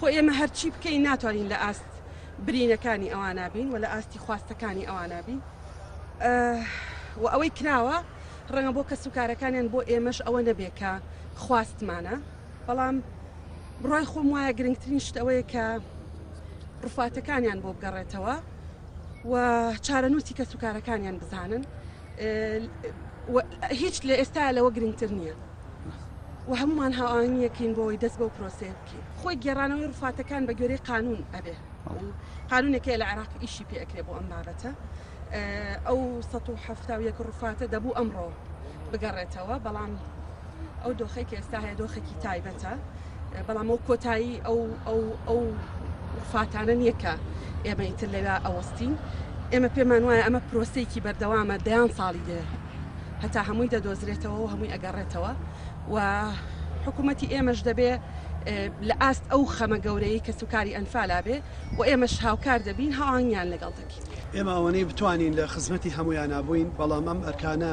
خۆ ئێمە هەرچی بکەین ناتوانین لە ئاست برینەکانی ئەوان نابین و لە ئاستی خواستەکانی ئەوان نابین و ئەوەی کراوە ڕەنگە بۆ کەس و کارەکانیان بۆ ئێمەش ئەوە نەبێ کە خواستمانە بەڵام بڕای خۆم وایە گرنگترین شت ئەوەیە کە ڕفاتەکانیان بۆ بگەڕێتەوە و چارەنووسی کەس و کارەکانیان بزانن و هیچ لە ئێستا لەوە گرنگتر نییە و هەمومان هاوانیەکەین بۆی دەست بۆ پرۆسەیە بکەین خۆی گێڕانەوەی ڕفاتەکان بە گوێرەی قانون ئەبێ قانونێکە لە عێراق ئیشی پێ ئەکرێ بۆ ئەم بابەتە ئەو 1970 ڕفاتە دەبوو ئەمڕۆ بگەڕێتەوە بەڵام ئەو دۆخەی کە ئێستا هەیە دۆخێکی تایبەتە بەڵام ئەو کۆتایی ئەو ئەو ئەو فاتانە نییە کە ئێمە ئیتر لەوێ ئەوەستین ئێمە پێمان وایە ئەمە پرۆسەیەکی بەردەوامە دەیان ساڵی دێ هەتا هەمووی دەدۆزرێتەوە و هەمووی ئەگەڕێتەوە و حکوومەتی ئێمەش دەبێ لە ئاست ئەو خەمە گەورەی کە سوکاری ئەنفالا بێ و ئێمەش هاوکار دەبین هاوانگیان لەگەڵ دەکەین ئێماوەنەی بتوانین لە خزمەتی هەمویان نبووین بەڵام ئەم ئەرکانە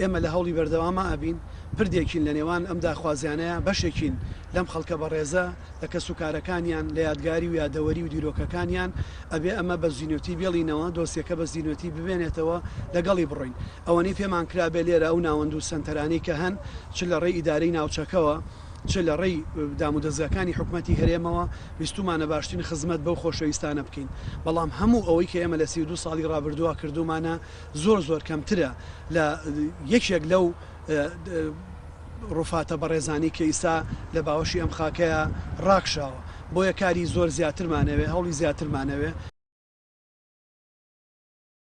ئێمە لە هەوڵی بەردەواما ئەبین، پردێکین لە نێوان ئەم داخوازیانەیا، بەشێکین لەم خەڵکە بەڕێزە، لە کەس و کارەکانیان، لە یادگاری و یادەوەری و دیرۆکەکانیان، ئەبێ ئەمە بە زینۆتی بێڵینەوە، دۆسیەکە بە زینۆتی بمێنێتەوە، لە گەڵی بڕۆین. ئەوەنەی پێمان کرابێ لێرە ئەو ناوەند و سەنتەرانەی کە هەن، چ لە ڕێی ئیدارەی ناوچەکەوە، چ لە ڕێی دام و دەزگاکانی حکومەتی هەرێمەوە، ویستومانە باشترین خزمەت بەو خۆشەویستانە بکەین، بەڵام هەموو ئەوەی کە ئێمە لە سی و دوو ساڵی ڕابردووا کردومانە، زۆر زۆر کەمترە لە یەکێک لەو ڕوفاتە بەڕێزانی کە ئیستا لە باوەشی ئەم خاکەیا ڕاکشاوە بۆیە کاری زۆر زیاترمانەوێ هەوڵی زیاترمانەوێ.